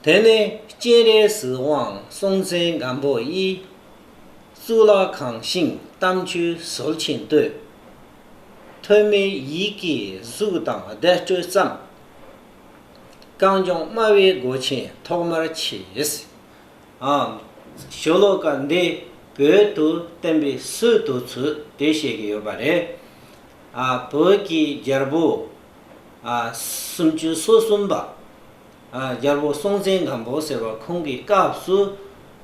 དེ་ནས་སྤྱན་རས་གཟིགས་དབང་སྲོང་བཙན་སྒམ་པོ་དབྱིས། གཙུག་ལག་ཁང་ཞིང་གཏམ་ཆོས་ཟོར་ཆེན་བསྟོད། ཐོན་མིའི་ཡིད་ཀྱི་གཟུགས་དང་བདེ་སྤྲོད་བརྩམས། རྐང་གཅོང་དམའ་བའི་སྒོ་ཆེན་ཐོག་མར་ཕྱེས། ཨང། ཞོ་ལོ་ཀ་འདི་བོད་དུ་བསྟན་པའི་སྲོལ་དུ་ཚུད་དེ་བཤད་ཀྱི་ཡོད་པ་རེད། ཨ་བོད་ཀྱི་རྒྱལ་པོ། ཨ། སུམ་ཅུ་སོ་གསུམ་པ། རྒྱལ་པོ་སྲོང་བཙན་སྒམ་པོ་ཟེར་བ་ཁོང་གི་སྐབས་སུ་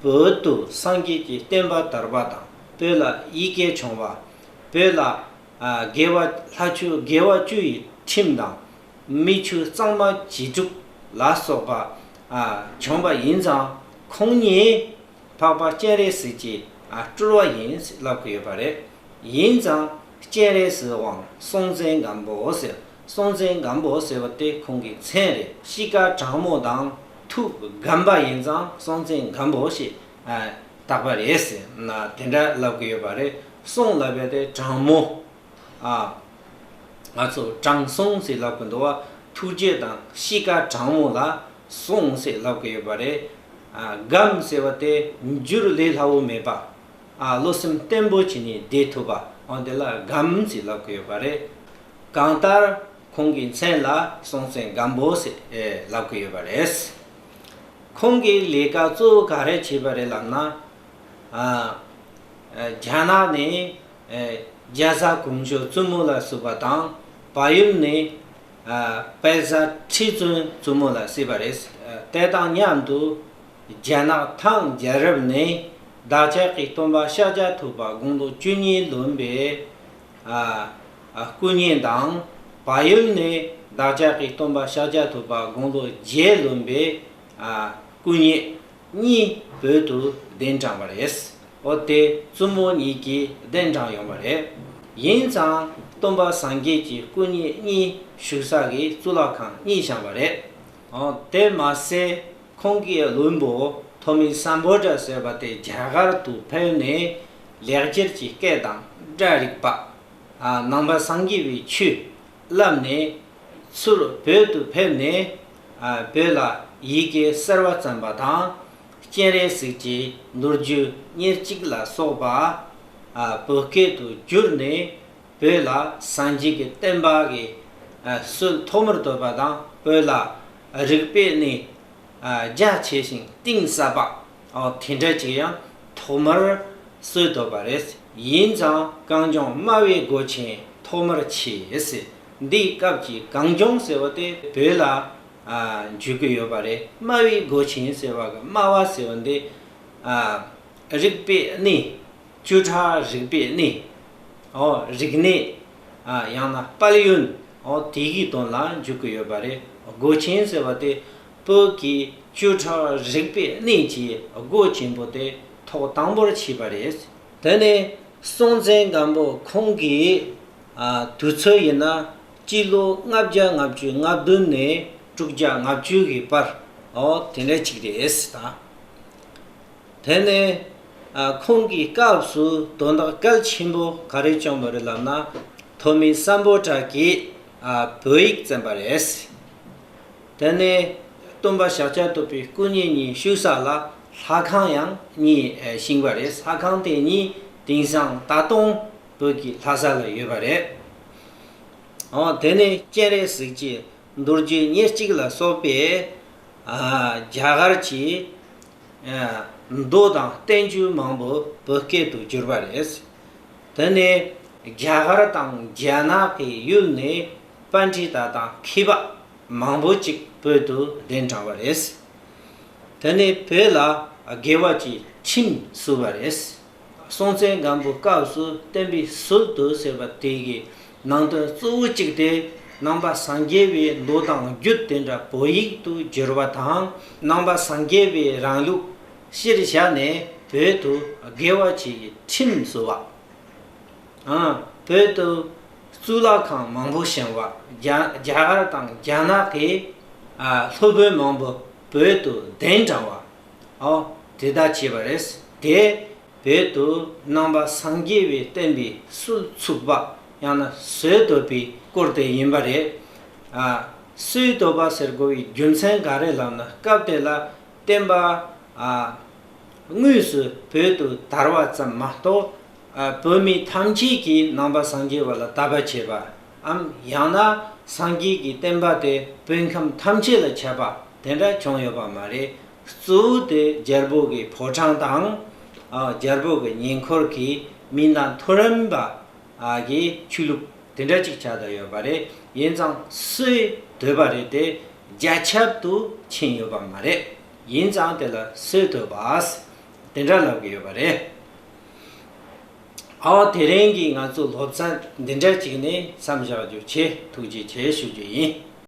བོད་དུ་སངས་རྒྱས་ཀྱི་བསྟན་པ་དར་བ་དང་བོད་ལ་ཡི་གེ་བྱུང་བ། བོད་ལ་དགེ་བ་ལྷ་ཆུ་དགེ་བ་བཅུ་ཡི་ཁྲིམས་དང། མི་ཆུ་གཙང་མ་བྱི་ཕྲུག་ལ་སོགས་པ་བྱུང་བ་ཡིན་ཙང་ཁོང་ཉིད་འཕགས་པ་སྤྱན་རས་གཟིགས་ཀྱི་སྤྲུལ་བ་ཡིན་ལབ་ཀྱི་ཡོད་པ་རེད། ཡིན་ཙང་སྤྱན་རས་གཟིགས་དབང་སྲོང་བཙན་སྒམ་པོ་ཟེར་སྲོང་བཙན་སྒམ་པོ་ཟེར་བ་དེ་ཁོང་གི་མཚན་རེད། གཤིས་དཀར་དྲང་མོ་དང་ཐུགས་སྒམ་པ་ཡིན་ཙང་སྲོང་བཙན་སྒམ་པོ་ཞེས་བཏགས་པ་རེད་ཟེར་ན་དེ་འདྲ་ལབ་གི་ཡོད་པ་རེད། སྲོང་ལབ་པའི་དེ་དྲང་མོ། ང་ཚོ་དྲང་སྲོང་ཟེར་ལབ་གི་འདུག་བ། ཐུགས་རྗེ་དང་གཤིས་དཀར་དྲང་མོ་ལ་སྲོང་ཟེར་ལབ་གི་ཡོད་པ་རེད། སྒམ་ཟེར་བ་དེ་འགྱུར་ལས་སླ་བོ་མེད་པ། བློ་སེམས་བརྟན་པོ་བྱས་ནས་བསྡད་ཐུབ་པ་འོན་ཏེ་ལ་སྒམ་ཟེར་ལབ་གི་ཡོད་པ་རེད། གང་ལྟར་ཁོང་གི་མཚན་ལ་སྲོང་བཙན་སྒམ་པོ་ལབ་གི་ཡོད་པ་རེད། ཁོང་གིས་ལས་ཀ་གཙོ་བོ་ག་རེ་བྱས་པ་རེད་ལབ་ན། རྒྱ་ནག་ནས་རྒྱ་བཟའ་གོང་ཞོ་བཙུན་མོ་ལ་བསུ་བ་དང་བལ་ཡུལ་ནས་བལ་བཟའ་ཁྲི་བཙུན་བཙུན་མོ་ལ་བསུས་པ་རེད། དེ་དང་མཉམ་དུ་རྒྱ་ནག་ཐང་རྒྱལ་རབས་ནས་བདག་ཅག་གི་སྟོན་པ་ཤཱཀྱ་ཐུབ་པ་དགུང་ལོ་བཅུ་གཉིས་ལོན་པའི་སྐུ་བརྙན་དང་བག་ཡོད་ནས་བདག་ཅག་གི་སྟོན་པ་ཤཱཀྱ་ཐུབ་པ་དགུང་ལོ་བརྒྱད་ལོན་པའི་སྐུ་བརྙན་གཉིས་བོད་དུ་གདན་དྲངས་པ་རེད། འོ་དེ་བཙུན་མོ་གཉིས་ཀྱིས་གདན་དྲངས་ཡོང་བ་རེད། ཡིན་ཙང་སྟོན་པ་སངས་རྒྱས་ཀྱི་སྐུ་བརྙན་གཉིས་བཞུགས་ས་གི་གཙུག་ལག་ཁང་གཉིས་བཞེངས་པ་རེད། དེ་མ་ཟད་ཁོང་གི་བློན་པོ་ཐོ་མི་སམ་བྷོ་ཏྲ་ཟེར་བ་དེ་རྒྱ་གར་དུ་ཕེབས་ནས་ལེགས་སྦྱར་གྱི་སྐད་དང་སྒྲ་རིག་པ། ནང་པ་སངས་རྒྱས་པའི་ཆོས་བསླབས་ནས། ཚུར་བོད་དུ་ཕེབས་ནས། བོད་ལ་ཡི་གེ་གསར་བ་བརྩམས་པ་དང། སྤྱན་རས་གཟིགས་ཀྱི་མདོ་རྒྱུད་ཉེར་གཅིག་ལ་སོགས་པ། བོད་སྐད་དུ་བསྒྱུར་ནས་བོད་ལ་སངས་རྒྱས་ཀྱི་བསྟན་པ་གི་སྲོལ་ཐོག་མར་བཏོད་པ་དང་བོད་ལ་རིག་པའི་གནས་རྒྱ་ཆེ་ཞིང་གཏིང་ཟབ་པ་དེ་འདྲ་ཅིག་ཡང་ཐོག་མར་སྲོལ་བཏོད་པ་རེད། ཡིན་ཙང་གངས་ལྗོངས་དམའ་བའི་སྒོ་ཆེན་ཐོག་མར་ཕྱེས། འདིའི་སྐབས་ཀྱི་གངས་ལྗོངས་ཟེར་བ་དེ་བོད་ལ་འཇུག་གི་ཡོད་པ་རེད། དམའ་བའི་སྒོ་ཆེན་ཟེར་བ་གི་དམའ་བ་ཟེར་བ་འདི། རིག་པའི་གནས། བཅུ་ཕྲག་རིག་པའི་གནས། རིག་གནས། ཡང་ན་དཔལ་ཡོན། དེ་གི་དོན་ལ་འཇུག་གི་ཡོད་པ་རེད། སྒོ་ཆེན་ཟེར་བ་དེ། བོད་ཀྱི་བཅུ་ཕྲག་རིག་པའི་གནས་ཀྱི་སྒོ་ཆེན་པོ་དེ་ཐོག་དང་པོར་ཕྱེས་པ་རེད། དེ་ནས་སྲོང་བཙན་སྒམ་པོ་ཁོང་གི་དུས་ཚོད་ཡིན་ན་སྤྱི་ལོ་ལྔ་བརྒྱ་ལྔ་བཅུ་ལྔ་བདུན་ནས་དྲུག་བརྒྱ་ལྔ་བཅུ་ཡི་བར་འོ་དེ་འདྲ་ཅིག་རེད་དང། དེ་ནས་ཁོང་གི་སྐབས་སུ་དོན་དག་གལ་ཆེན་པོ་ག་རེ་བྱུང་བ་རེད་ལབ་ན་ཐོན་མི་བསམ་པོ་གྲགས་ཀྱིས་བོད་ཡིག་བཙན་པ་རེད། དེ་ནས་སྟོན་པ་ཞག་བཅུ་ཐུབ་པའི་སྐུ་ཉིད་གཉིས་བཞུགས་ས་ལ་ལྷ་ཁང་ཡང་གཉིས་བཞེངས་པ་རེད་ས་ཁང་དེ་གཉིས་དེང་སང་ད་དུང་བོད་ཀྱི་ལྷ་ས་ལ་ཡོད་པ་རེད། འོང་དེ་ནས་སྤྱན་རས་གཟིགས་ཀྱི་མདོ་རྒྱུད་ཉེར་གཅིག་ལ་སོགས་པའི་རྒྱ་གར་གྱི་མདོ་དང་བསྟན་བཅོས་མང་པོ་བོད་སྐད་དུ་བསྒྱུར་བ་རེད། དེ་ནས་རྒྱ་གར་དང་རྒྱ་ནག་གི་ཡུལ་ནས་པཎ་ཏྲི་ཏཱ་དང་ཁི་པཱ། མང་པོ་ཅིག་བོད་དུ་གདན་དྲངས་པ་རེད། དེ་ནས་བོད་ལ་དགེ་བ་གྱི་ཁྲིམས་བསུ་བ་རེད། སྲོང་བཙན་སྒམ་པོའི་སྐབས་སུ་བསྟན་པའི་ཟུར་དུ་ཟེར་བ་དེ་གའི་ནང་དོན་གཙོ་བོ་གཅིག་དེ་ནང་པ་སངས་རྒྱས་པའི་མདོ་དང་རྒྱུད་དེ་འདྲ་བོད་ཡིག་ཏུ་བསྒྱུར་བ་དང་ནང་པ་སངས་རྒྱས་པའི་རང་ལུགས་གཞིར་བཞག་ནས་བོད་དུ་དགེ་བ་གྱི་ཁྲིམས་བསུ་བ། བོད་དུ་གཙུག་ལག་ཁང་མང་པོ་བཞེངས་བ། རྒྱ་གར་དང་རྒྱ་ནག་གི་སློབ་དཔོན་མང་པོ་བོད་དུ་གདན་དྲངས་བ། དེ་ལྟར་བྱས་པ་རེད། དེས་བོད་དུ་རྣམ་པ་སངས་རྒྱས་པའི་བསྟན་པའི་སྲོལ་ཚུགས་པ་ཡང་ན་སྲོལ་གཏོད་པའི་སྐོར་དེ་ཡིན་པ་རེད། སྲོལ་གཏོད་པ་ཟེར་དགོས་པའི་རྒྱུ་མཚན་ག་རེ་ལབ་ན་སྐབས་དེ་ལ་བསྟན་པ་དངོས་སུ་བོད་དུ་དར་བ་ཙམ་མ་གཏོགས་བོད་མི་ཐམས་ཅད་ཀྱིས་ནང་པ་སངས་རྒྱས་པ་ལ་བལྟ་བར་བྱེད་པའམ་ཡང་ན་སངས་རྒྱས་ཀྱི་བསྟན་པ་དེ་བོད་ཁམས་ཐམས་ཅད་ལ་ཁྱབ་པ་དེ་འདྲ་བྱུང་ཡོད་པ་མ་རེད། གཙོ་བོ་དེ་རྒྱལ་པོ་གི་ཕོ་བྲང་དང། རྒྱལ་པོ་གི་ཉེ་འཁོར་གྱི་མི་དང་མཐོ་རིམ་པ་གི་ཆོས་ལུགས་དེ་འདྲ་ཅིག་ཆགས་དང་ཡོད་པ་རེད། ཡིན་ཙང་སུའི་འདོད་པ་རེད་དེ་རྒྱ་ཁྱབ་ཏུ་ཕྱིན་ཡོད་པ་མ་རེད། ཡིན་ཙང་དེ་ལ་སུའི་འདོད་པ་དེ་འདྲ་ལབ་གི་ཡོད་པ་རེད། ཨ་ཨོ་དེ་རིང་གི་ང་ཚོའི་སློབ་ཚན་འདི་འདྲ་གཅིག་ནས་མཚམས་བཞག་རྒྱུ་ཆེས་ཐུགས་རྗེ་ཆེ་ཞུ་རྒྱུ་ཡིན།